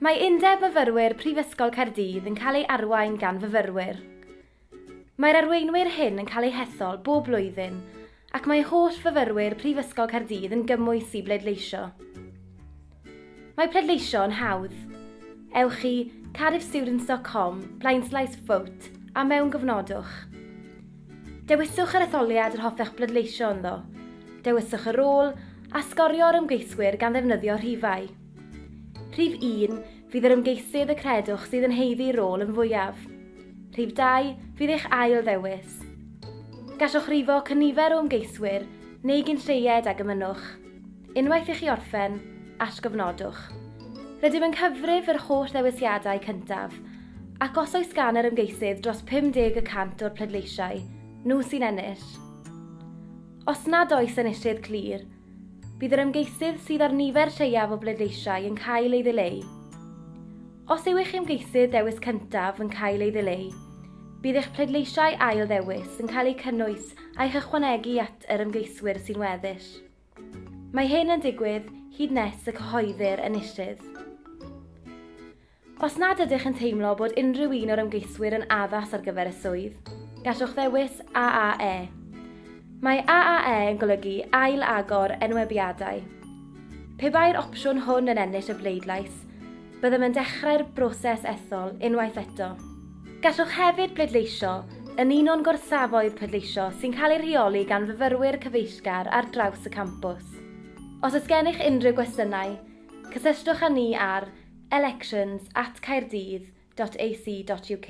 Mae Undeb Myfyrwyr Prifysgol Caerdydd yn cael ei arwain gan fyfyrwyr. Mae'r arweinwyr hyn yn cael eu hethol bob blwyddyn ac mae holl fyfyrwyr Prifysgol Caerdydd yn gymwys i bleidleisio. Mae pleidleisio yn hawdd. Ewch i cardiffstudents.com blaenslaes vote a mewngofnodwch. Dewiswch yr etholiad yr hoffech bleidleisio ynddo, dewiswch y rôl a sgorio'r ymgeiswyr gan ddefnyddio rhifau. Rhif 1, fydd yr ymgeisydd y credwch sydd yn heiddi rôl yn fwyaf. Rhif 2, fydd eich ail ddewis. Gallwch rifo cynifer o ymgeiswyr neu gyn lleied ag ymynnwch. Unwaith i chi orffen, atgofnodwch. Rydym yn cyfrif yr holl ddewisiadau cyntaf, ac os oes gan yr ymgeisydd dros 50 y cant o'r pleidleisiau, nhw sy'n ennill. Os nad oes enillydd clir, Bydd yr ymgeisydd sydd â'r nifer lleiaf o bleidleisiau yn cael ei ddileu. Os yw eich ymgeisydd dewis cyntaf yn cael ei ddileu, bydd eich pleidleisiau ail ddewis yn cael eu cynnwys a'u hychwanegu at yr ymgeiswyr sy'n weddill. Mae hyn yn digwydd hyd nes y cyhoeddir enillydd. Os nad ydych yn teimlo bod unrhyw un o'r ymgeiswyr yn addas ar gyfer y swydd, gallwch ddewis AAE. Mae AAE yn golygu Ail Agor Enwebiadau. Pe bai'r opsiwn hwn yn ennill y bleidlais, byddem yn dechrau'r broses ethol unwaith eto. Gallwch hefyd bleidleisio yn un o'n gorsafoedd pleidleisio sy'n cael eu rheoli gan fyfyrwyr cyfeillgar ar draws y campws. Os oes gennych unrhyw gwestiynau, cysylltwch â ni ar elections at caerdydd dot ac dot uk.